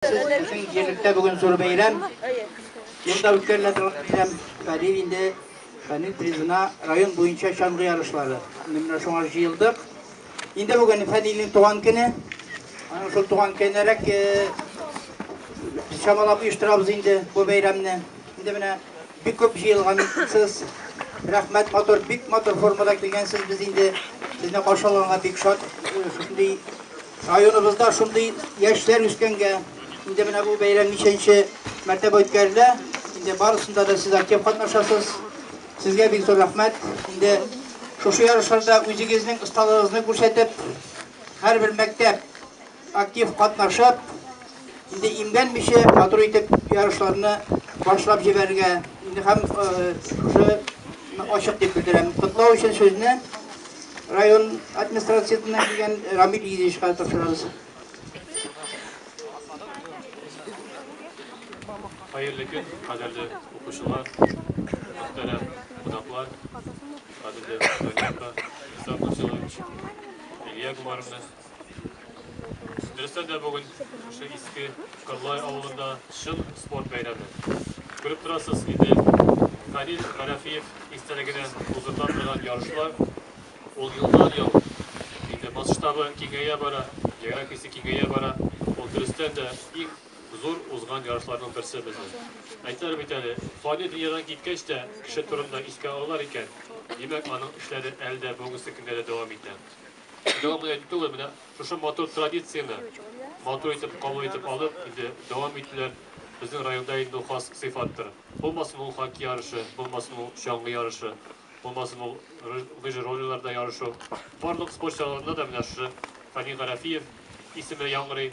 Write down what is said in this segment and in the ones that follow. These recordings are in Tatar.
Безнең җирлектә бүген зур бәйрәм. Ел да үткәрелә торган бәйрәм. Хәлил инде Хәлил призына район буенча чаңгы ярышлары. Аны менә шуңа җыелдык. Инде бүген Хәлилнең туган көне. Аның шул туган көнерәк чамалап оештырабыз инде бу бәйрәмне. Инде менә Бик күп җыелгансыз. Рәхмәт, матур, бик матур формада килгәнсез. Без инде сезне каршы алганга бик шат. Шундый районыбызда шундый яшьләр үскәнгә, инде менә бу бәйрәм ничәнче мәртәбә үткәрелә. Инде барысында да сез актив катнашасыз. Сезгә бик зур рәхмәт. Инде шушы ярышларда үзегезнең осталыгызны күрсәтеп, һәрбер мәктәп актив катнашып, инде имгәнмичә матур итеп ярышларны башлап җибәрергә һәм шушы ачык дип белдерәм. Котлау өчен сүзне район администрациясеннән килгән Рамил Ильичка тапшырабыз. Хәерле көн, кадерле укучылар, мөхтәрәм кунаклар, кадерле Илья Гумаровны Дөрестән дә бүген шушы иске Кырлай авылында чын спорт бәйрәме. Күреп торасыз инде, Фәнил Гарәфиев истәлегенә уздырыла торган ярышлар, ул елдан-ел инде масштабы киңәя бара, географиясе киңәя бара. Ул дөрестән дә иң зур узган ярышларның берсе безнең. Әйтәләр бит әле, фани дөньядан киткәч тә кеше турында искә алалар икән, димәк, аның эшләре әле дә бүгенге көнгә дә дәвам итә. Дәвамлы әйтүе белән шушы матур традицияне матур итеп кабул итеп алып, инде дәвам итүләр безнең районда инде ул хас сыйфаттыр. Булмасын ул хоккей ярышы, булмасын ул чаңгы ярышы, булмасын ул лыжи-роллерларда ярышу. Барлык спорт чараларында да менә шушы Фәнил Гарәфиев исеме яңгырый.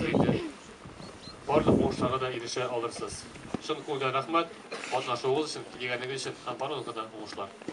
Сәйдә. Барлык уңышларга да ирешә алырсыз. Чын күңелдән рәхмәт, катнашуыгыз өчен, килгәнегез өчен һәм барлыгыгызга да уңышлар!